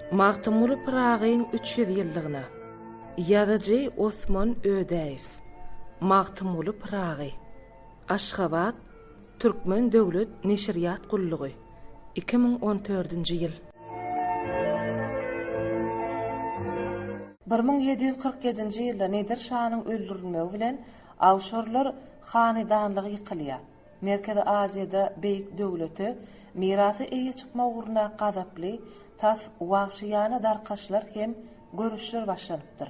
Magtymguly Pyragyň üç ýüz ýyllygyna Ýazyjy Osman Ödäýew Magtymguly Pyragy Aşgabat, Türkmen döwlet neşirýat gullugy, iki müň on dördünji ýyl. Bir müň ýedi ýüz kyrk ýedinji ýylda Nedir şanyň öldürilmegi bilen awşarlar hanydanlygy ýykylýar. Merkezi Aziýada beýik döwlete mirasy eýe çykma ugruna gazaply, tas wagşyýana darkaşlar hem göreşler başlanypdyr.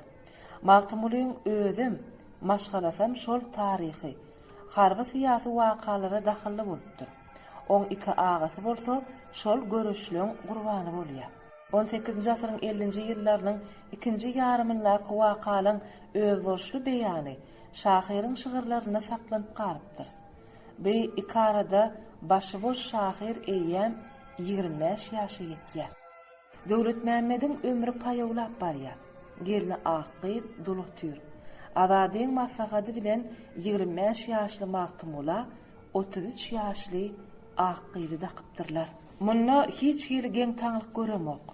Magtymgulyň özem, maşgalasam şol taryhy, harby-syýasy wakalara dahylly bolupdyr. Oň iki agasy bolsa şol göreşleň gurbany bolýar. On sekizinji asyryň ellinji ýyllarynyň ikinji ýarymyndaky wakalaň özboluşly beýany, şahyryň şygyrlarynda saklanyp galypdyr. Bi iki arada başyboş şahyr eýýäm ýigrimi bäş ýaşa ýetýär. Döwletmämmediň ömri paýawlap barýar. Gelni ak gyz, dul otyr. Azadyň maslahady bilen ýigrimi bäş ýaşly Magtymgula otuz üç ýaşly ak gyzy dakypdyrlar. Munda hiç hili geň-taňlyk göremok.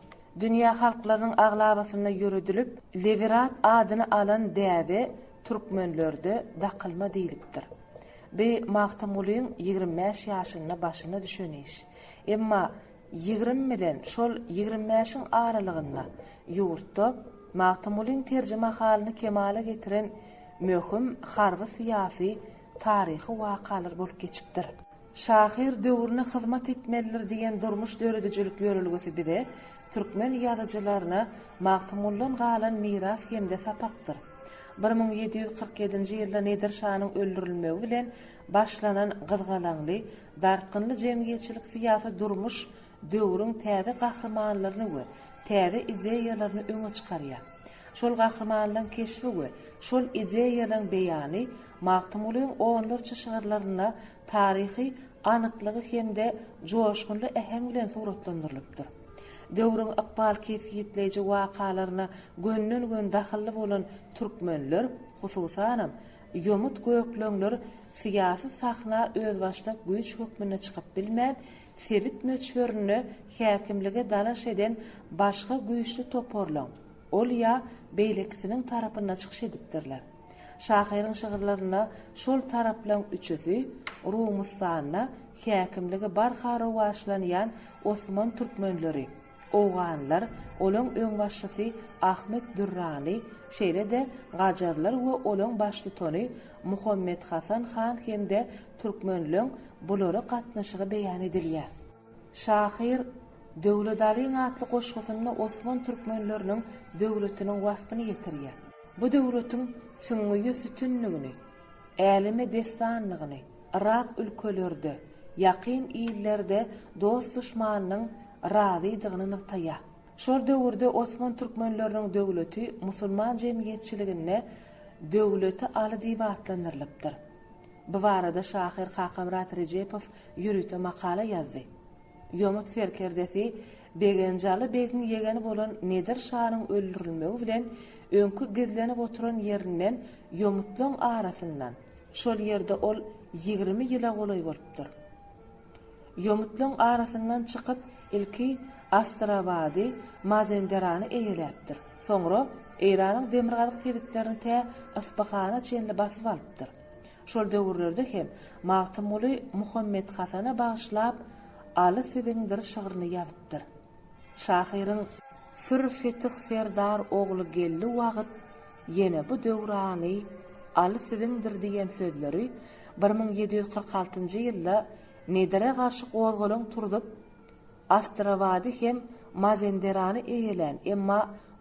Dünýä halklarynyň aglabasynda ýöredilip, Lewirat adyny alan däbe türkmenlerde dakylma diýlipdir. Bi Magtymgulyň ýigrimi bäş ýaşynda başyna düşen iş. Emma ýigrimi bilen şol ýigrimi bäşiň aralygynda ýurtda Magtymgulyň terjimehalyny kemala getiren möhüm harby-syýasy, taryhy wakalar bolup geçipdir. Şahyr döwrüne hyzmat etmelidir diýen durmuş döredijilik ýörelgesi bize, türkmen ýazyjylaryna Magtymguldan galan miras hem-de sapakdyr. Bir müň ýedi ýüz kyrk ýedinji ýylda Nedir şanyň öldürilmegi bilen başlanan gyzgalaňly, dartgynly jemgyýetçilik-syýasy durmuş döwrüň täze gahrymanlaryny we täze ideýalaryny öňe çykarýar. Şol gahrymanlaryň keşbi we şol ideýalaryň beýany Magtymgulyň onlarça şygyrlarynda taryhy anyklygy hem-de joşgunly äheň bilen suratlandyrylypdyr. Döwrüň ykbal kesgitleýji wakalaryna gönden-gön dahylly bolan türkmenler, hususanam, ýomut gökleňler syýasy sahna özbaşdak güýç hökmünde çykyp bilmän, sebit möçberinde häkimlige dalaş eden başga güýçli toparlaryň, ol ýa beýlekisiniň tarapynda çykyş edipdirler. Şahyryň şygyrlarynda şol taraplaryň üçüsi Rumustanda häkimligi barha rowaçlanýan osman türkmenleri, Owganlar, olaň öňbaşçysy Ahmet Durrani, şeýle-de gajarlar we olaň baştutany Muhammet Hasan han hem-de türkmenleň bulara gatnaşygy beýan edilýär. Şahyr Döwletalyň atly goşgusynda osman türkmenleriniň döwletiniň waspyny ýetirýär. Bu döwletiň süňňüýe sütünligini, äleme dessanlygyny, yrak ülkelerde, ýakyn illerde dost-duşmanynyň razydygyny nygtaýar. Şol döwürde osman türkmenleriniň döwleti musulman jemgyýetçiliginde Döwleti Aly diýip atlandyrylypdyr. Bu barada şahyr Kakamyrat Rejepow ýörite makala ýazdy. Ýomut serkerdesi Begenjaly begiň ýegeni bolan Nedir şanyň öldürilmegi bilen öňki gizlenip oturan ýerinden ýomutlaň arasyndan, Şol ýerde ol ýigrimi ýyla golaý bolupdyr. Ýomutlaň arasyndan çykyp, ilki Astrabady, Mazenderany eýeläpdir. Soňra Eýranyň demirgazyk sebitlerini tä Yspyhana çenli basyp alypdyr. Şol döwürlerde hem Magtymguly Muhammet Hasana bagyşlap Aly siziňdir şygryny ýazypdyr. Şahyryň Sür Fetih Serdar ogly geldi wagyt ýene bu döwrany Aly siziňdir diýen sözleri bir müň ýedi ýüz kyrk altynjy ýylda Nedire garşy gozgalaň turzup, Astrabady hem Mazenderany eýelän, emma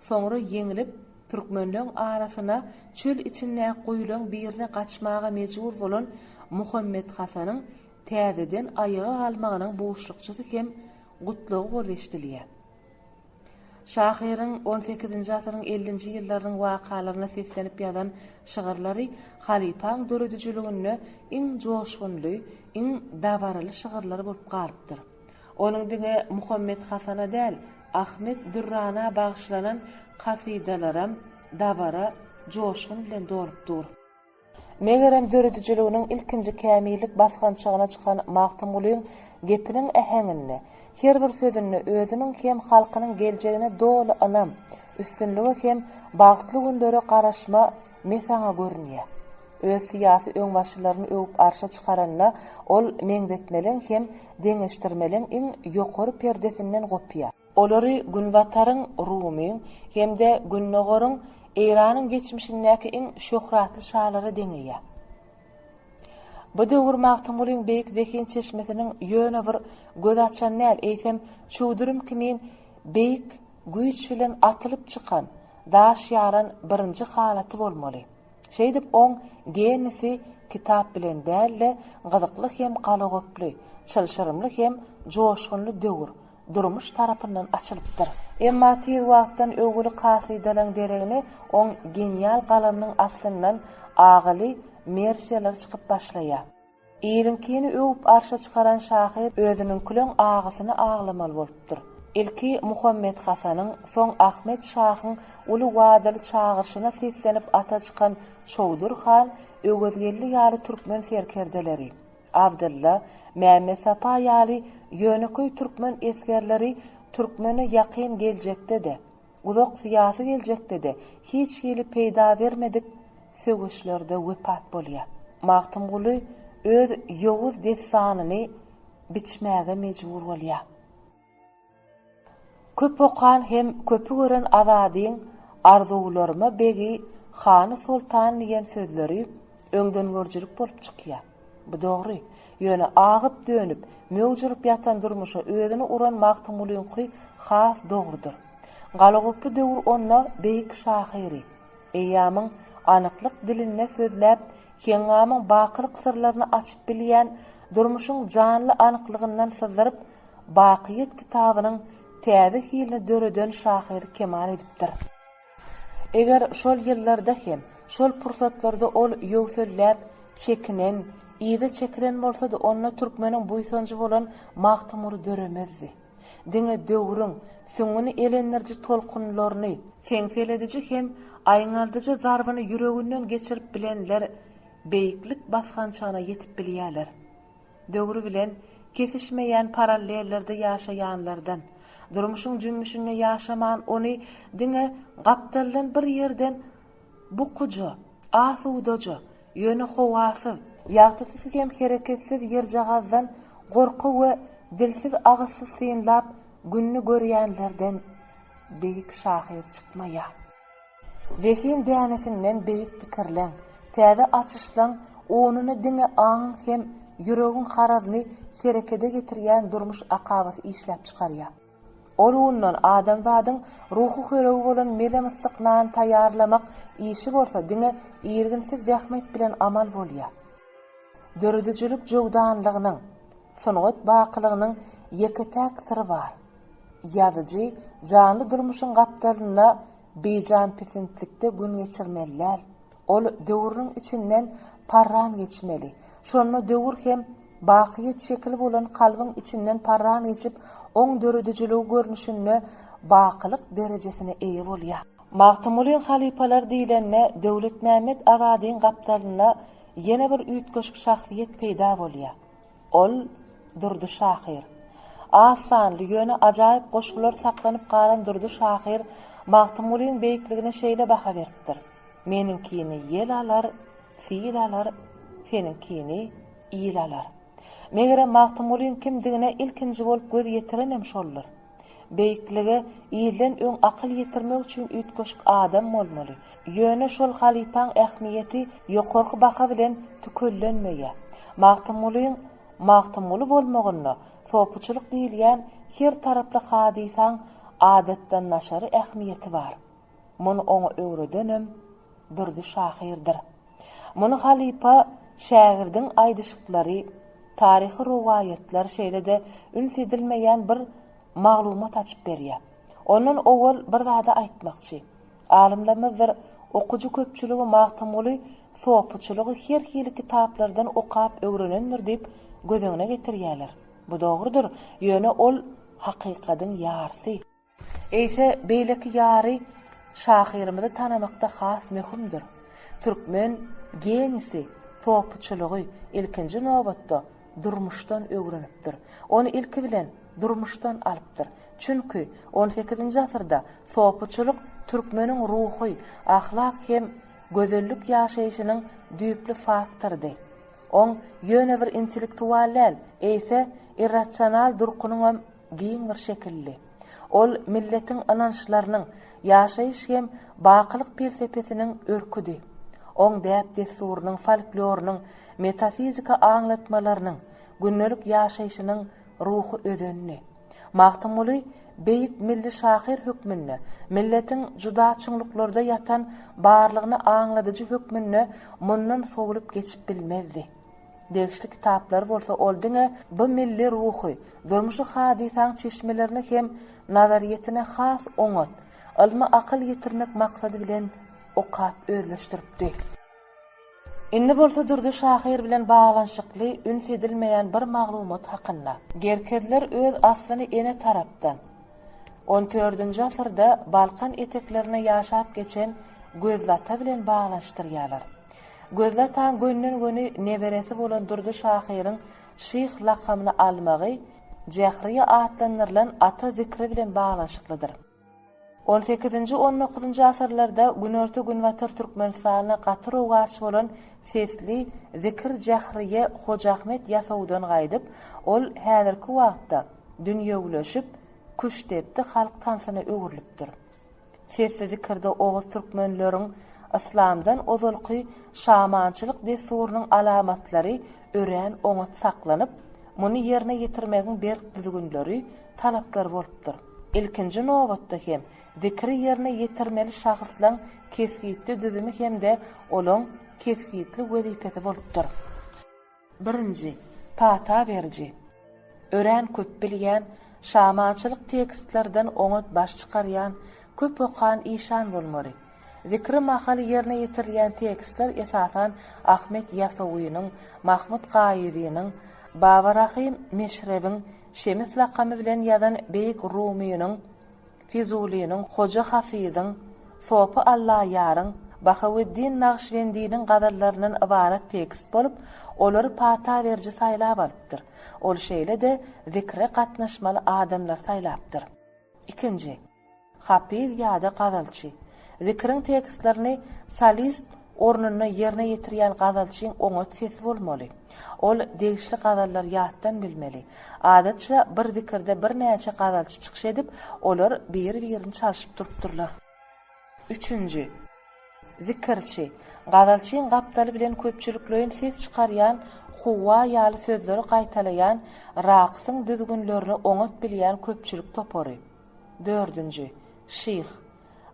soňra ýeňlip, türkmenleň arasyna çöl içindäki guýulaň birine gaçmaga mejbur bolan Muhammet Hasanyň täzeden aýaga galmagynyň buşlukçysy hem gutlagy bolup eşidilýär. Şahyryň on sekizinji asyryň ellinji ýyllarynyň wakalaryna seslenip ýazan şygyrlary halypaň döredijiliginde iň joşgunly, iň dabaraly şygyrlary bolup galypdyr. Onuň diňe Muhammet Hasana däl, Ahmet Dürrana bagyşlanan kasydalaram dabara, joşgun bilen dolup dur. Megerem döredijiliginiň ilkinji kämillik basgançagyna çykan Magtymgulyň gepiniň äheňinde, her bir sözünde özüniň hem halkynyň geljegine doly ynam, üstünlige hem bagtly günlere garaşma mesaňy görünýär. Öz syýasy öňbaşçylaryny öwüp arşa çykaranda ol meňzetmeliň hem deňeşdirmeliň iň ýokary perdesinden gopýar. Olary Günbataryň, Rumyň, hem-de Gündogaryň, Eýranyň geçmişindäki iň şöhratly şalary deňeýär. Bu döwür Magtymgulyň beýik zehin çeşmesiniň ýöne bir göz açan däl, eýsem, çüwdürim kimin beýik güýç bilen atylyp çykan, daş ýaran birinji halaty bolmaly. Şeýdip, oň genisi kitap bilen däl-de, gyzykly hem galagoply, çylşyrymly hem joşgunly döwür, Durmuş tarapyndan açylypdyr. Emma tiz wagtdan öwgüli kasydalaň deregine oň genial galamynyň aslyndan agyly mersiýalar çykyp başlaýar. Iliňkini öwüp arşa çykaran şahyr özüniňkileň agysyny aglamaly bolupdyr. Ilki Muhammet Hasanyň, soň Ahmet şahyň uly wadaly çagyryşyna seslenip ata çykan Çowdur han, Öwezgeldi ýaly türkmen serkerdeleri, Abdylla, Mämmetsapa ýaly ýönekeý türkmen esgerleri türkmene ýakyn geljekde-de, uzak syýasy geljekde-de hiç hili peýda bermedik söweşlerde wepat bolýar. Magtymguly öz ýowuz dessanyny biçmäge mejbur bolýar. Köp okan hem köpi gören Azadyň Arzuwlaryma begi, hany, soltan diýen sözleri öňdengörüjilik bolup çykýar. Bu dogry. Ýöne agyp-dönüp, möwç urup ýatan durmuşa özüni uran Magtymgulyňky has dogrudyr. Galagoply döwür onda beýik şahyry, eýýamyň anyklyk dilinde sözläp, heňňamyň bakylyk syrlaryny açyp bilýän, durmuşyň janly anyklygyndan syzdyryp, Bakyýet kitabynyň täze hilini döreden şahyr kemal edipdir. Eger şol ýyllarda hem, şol pursatlarda ol ýöwselläp, çekinen, yza çekilen bolsady, onda türkmeniň buýsanjy bolan Magtymguly döremezdi. Diňe döwrüň, süňňüni elendiriji tolkunlaryny, seňselediji hem aýňaldyjy zarbyny ýüreginden geçirip bilenler beýiklik basgançagyna ýetip bilýärler. Döwri bilen kesişmeýän parallellerde ýaşaýanlardan, durmuşyň jümmüşinde ýaşaman ony diňe gapdaldan bir ýerden bukuja, asudaja, ýöne howasyz, ýagtysyz hem hereketsiz ýerjagazdan gorky we dilsiz-agyzsyz synlap gününi görýänlerden beýik şahyr çykmaýar. Zehin dänesinden beýik pikirleň, täze açyşlaň onuny diňe aňyň hem ýüregiň harazyny herekede getirýän durmuş akabasy işläp çykarýar. Ol undan adamzadyň ruhy höregi bolan mele-myssyk nan taýýarlamak işi bolsa diňe irginsiz zähmet bilen amal bolýar. Döredijilik jöwdanlygynyň, sungat bakylygynyň ýeke-täk syry bar. Ýazyjy janly durmuşyň gapdalynda Bijan pisintlikde gün geçirmeli däl. Ol döwrüniň içinden parran geçmeli. Şonda döwür hem bakyýet şekili bolan kalbyň içinden parran geçip, oň döredijiligi görnüşinde bakylyk derejesine eýe bolýar. Magtymguly halypalar diýlende Döwletmämmet Azadyň gapdalynda ýene bir üýtgeşik şahsyýet peýda bolýar. Ol, Durdy şahyr. Az sanly, ýöne ajaýyp goşgular saklanyp galan Durdy şahyr Magtymgulyň beýikligine şeýle baha beripdir, Meniňkini ýel alar, sil alar, seniňkini il alar. Megerem, Magtymgulyň kimdigine ilkinji bolup göz ýetirenem şoldur. Beýiklige ilden öň akyl ýetirmek üçin üýtgeşik adam bolmaly. Ýöne şol halypaň ähmiýeti ýokarky baha bilen tükellenmeýär. Magtymgulyň Magtymguly bolmagynda sopuçylyk diýilýän her taraply hadysaň adatdandaşary ähmiýeti bar. Muny oňa öwredenem Durdy şahyrdyr. Muny halypa şägirdiň aýdyşyklary, taryhy rowaýatlar şeýle-de üns edilmeýän bir maglumat açyp berýär. Ondan owal bir zady aýtmakçy. Alymlarymyzdyr okyjy köpçüligi Magtymguly sopuçylygy her hili kitaplardan okap öwrenendir diýip göz öňüne getirýärler. Bu dogrudyr, ýöne ol hakykadyň ýarsy. Eýse beýleki ýary şahyrymyzy tanamakda has möhümdir. Türkmen genisi sopyçylygy, ilkinji nobatda, durmuşdan öwrenipdir. Ony ilki bilen durmuşdan alypdyr. Çünki, on sekizinji asyrda sopyçylyk türkmeniň ruhy, ahlak hem gözellik ýaşaýşynyň düýpli faktorydy. Oň ýöne bir intellektual däl, eýse irrasional durkunyňam giň bir şekilli. Ol milletiň ynançlarynyň, ýaşaýyş hem bakylyk pelsepesiniň örküdi. Oň däp-dessurynyň, folklorynyň, metafizika aňlatmalarynyň, gündelik ýaşaýşynyň ruhy özendi. Magtymguly beýik milli şahyr hökmünde, milletiň juda çuňluklarda ýatan barlygyny aňladyjy hökmünde mundan sowlup geçip bilmezdi. Degişli kitaplary bolsa ol diňe bu milli ruhy, durmuşy hadysaň çeşmelerini hem nazaryýetine has oňat, ylmy akyl ýetirmek maksady bilen okap özleşdiripdi. Indi bolsa Durdy şahyr bilen baglanyşykly üns edilmeýän bir maglumat hakynda. Gerkezler öz aslyny ene tarapdan, on dördünji asyrda Balkan eteklerinde ýaşap geçen Gözlata bilen baglanyşdyrýarlar. Gözli ataň gönden-göni neberesi bolan Durdy şahyryň şyh lakamyny almagy Jähriýe atlandyrylan ata zikri bilen baglanyşyklydyr. On sekizinji-on dokuzynjy asyrlarda günorta-günbatar Türkmenistanda gaty rowaç bolan sesli zikir Jähriýe Hojaahmet Ýasawdan gaýdyp, ol häzirki wagtda dünýewileşip, küştdepdi halk tansyna öwrülipdir. Sesli zikirde oguz türkmenleriň yslamdan ozalky şamançylyk dessurynyň alamatlary örän oňat saklanyp, muny ýerine ýetirmegiň berk düzgünleri, talaplary bolupdyr. Ilkinji nobatda hem zikiri ýerine ýetirmeli şahyslaň kesgitli düzümi hem-de olaň kesgitli wezipesi bolupdyr. Birinji, pata beriji. Örän köp bilýän, şamançylyk tekstlerden oňat baş çykarýan, köp okan işan bolmaly. Zikri mahaly ýerine ýetirilýän tekstler esasan Ahmet Ýasawynyň, Mahmut Gaýyzynyň, Baba Rahym Meşrebiň, Şemis lakamy bilen ýazan beýik rumynyň Fizulynyň, Hoja Hafyzyň, Sopy Allaýaryň, Bahaweddin Nagşybendiniň gazallaryndan ybarat tekst bolup, olary pata beriji saýlap alypdyr. Ol şeýle-de zikre gatnaşmaly adamlary saýlapdyr. Ikinji. Hapyz ýa-da gazalçy. Zikriň tekstlerini solist ornunda ýerine ýetirýän gazalçyň oňat sesi bolmaly. Ol degişli gazallary ýatdan bilmeli. Adatça, bir zikirde birnäçe gazalçy çykyş edip, olar biri-birini çalşyp durupdyrlar. Üçünji. Zikirçi. Gazalçyň gapdaly bilen köpçülikleýin ses çykarýan Huwa ýaly sözleri gaýtalaýan raksyň düzgünlerini oňat bilýän köpçülik topary. Dördünji. Şyh.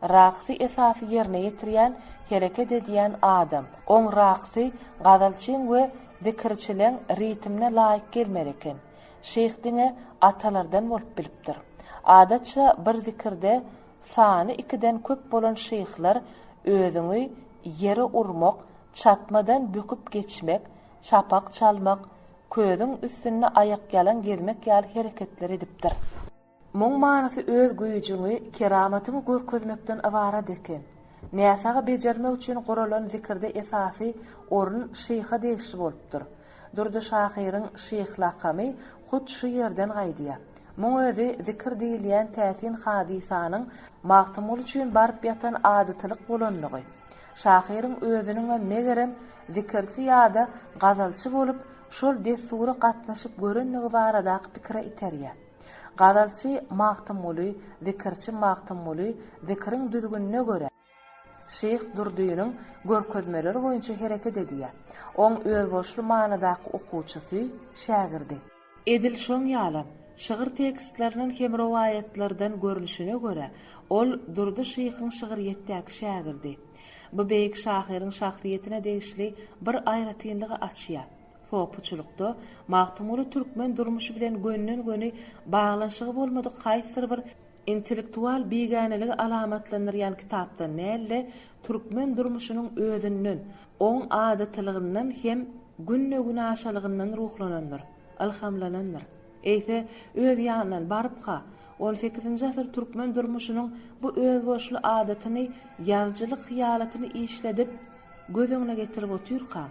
Raksy esasy ýerine ýetirýän, hereket edýän adam. Oň raksy gazalçyň we zikirçileň ritmine laýyk gelmeli eken. Şeýh diňe atalardan bolup bilipdir. Adatça bir zikirde sany ikiden köp bolan şeýhler özüňi ýere urmak, çatmadan böküp geçmek, çapak çalmak, közüň üstünde aýakýalaň gezmek ýaly hereketler edipdir. Muň manysy öz güýjüňi, keramatyňy görkezmekden ybarat eken. Näsagy bejermek üçin guralan zikirde esasy orun şyha degişli bolupdyr. Durdy şahyryň şyh lakamy hut şu ýerden gaýdýar. Muň özi zikir diýilýän täsin hadysanyň Magtymguly üçin baryp ýatan adatylyk bolanlygy. Şahyryň özüniňem megerem zikirçi ýa-da gazalçy bolup, şol dessura gatnaşyp görendigi baradaky pikire iterýär. Gazalçy Magtymguly, zikirçi Magtymguly zikiriň düzgünine görä, Şyh Durdynyň görkezmeleri boýunça hereket edýär. Oň özboluşly manydaky okuwçysy, şägirdi. Edil şoň ýaly, şygyr tekstlerinden hem rowaýatlardan görnüşine görä, ol Durdy şyhyň şygyrýetdäki şägirdi. Bu beýik şahyryň şahsyýetine degişli bir aýratynlygy açýar. Sopuçylykda Magtymguly türkmen durmuşy bilen gönden-göni baglanyşygy bolmadyk haýsydyr bir intellektual bigäneligi alamatlandyrýan kitapdan däl-de, türkmen durmuşynyň özünden, oň adatylygyndan hem günde-günaşalygyndan ruhlanandyr, ylhamlanandyr. Eýse, öz ýanyndan, barypka, on sekizinji asyr türkmen durmuşynyň bu özboluşly adatyny, ýazyjylyk hyýalatyny işledip, göz öňüne getirip otyrka,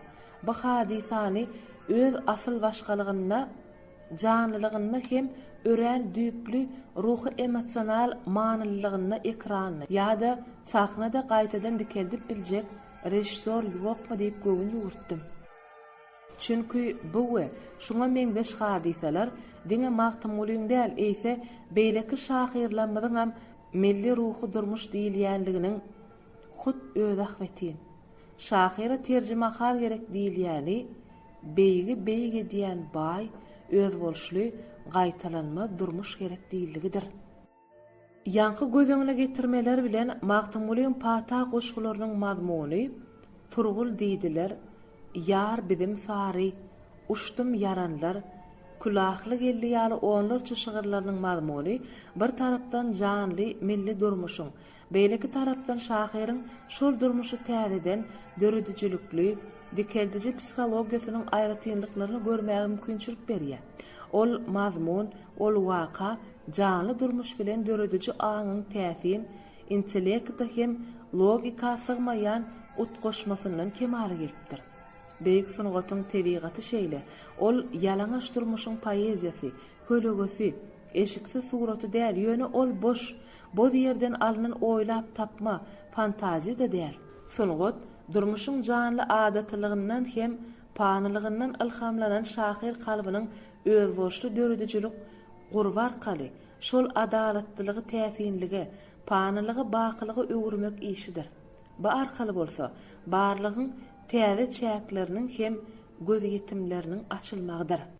Bu hadysany öz asyl başgalygynda, janlylygynda hem örän düýpli ruhy-emosional manylylygynda ekranda ýa-da sahnada gaýtadan dikeldip biljek režissýor ýokmy diýip göwün ýüwürtdim. Çünki bu we şuňa meňzeş hadysalar diňe Magtymgulyň däl, eýse beýleki şahyrlarymyzyňam milli ruhy durmuş diýilýänliginiň hut öz ahbetin. Şahyra terjimahal gerek diýilýäni, beýigi beýik edýän baý, özboluşly, gaýtalanmaz durmuş gerek diýildigidir. Ýaňky göz öňüne getirmeler bilen Magtymgulyň pata goşgularynyň mazmuny Turgul diýdiler, Ýar biziň sary, Uçdum ýaranlar, Külahly geldi ýaly onlarça şygyrlarynyň mazmuny bir tarapdan janly milli durmuşyň, Beýleki tarapdan şahyryň şol durmuşy täzeden döredijilikli, dikeldiji psihologiýasynyň aýratynlyklaryny görmäge mümkinçilik berýär. Ol mazmun, ol waka janly durmuş bilen dörediji aňyň täsin, intellekta hem logika sygmaýan utgaşmasyndan kemala gelipdir. Beýik sungatyň tebigaty şeýle, ol ýalaňaç durmuşyň poeziýasy, Kölegesi, eşiksiz suraty däl, ýöne ol boş, boz ýerden alnan oýlap tapma, fantaziýa-da däl. Sungat, durmuşyň janly adatylygyndan hem panylygyndan ylhamlanan şahyr kalbynyň özboluşly döredijilik gurby arkaly, şol adalatlylygy täsinlige, panylygy bakylyga öwürmek işidir. Bu arkaly bolsa, barlygyň täze çäkleriniň hem gözýetimleriniň açylmagydyr.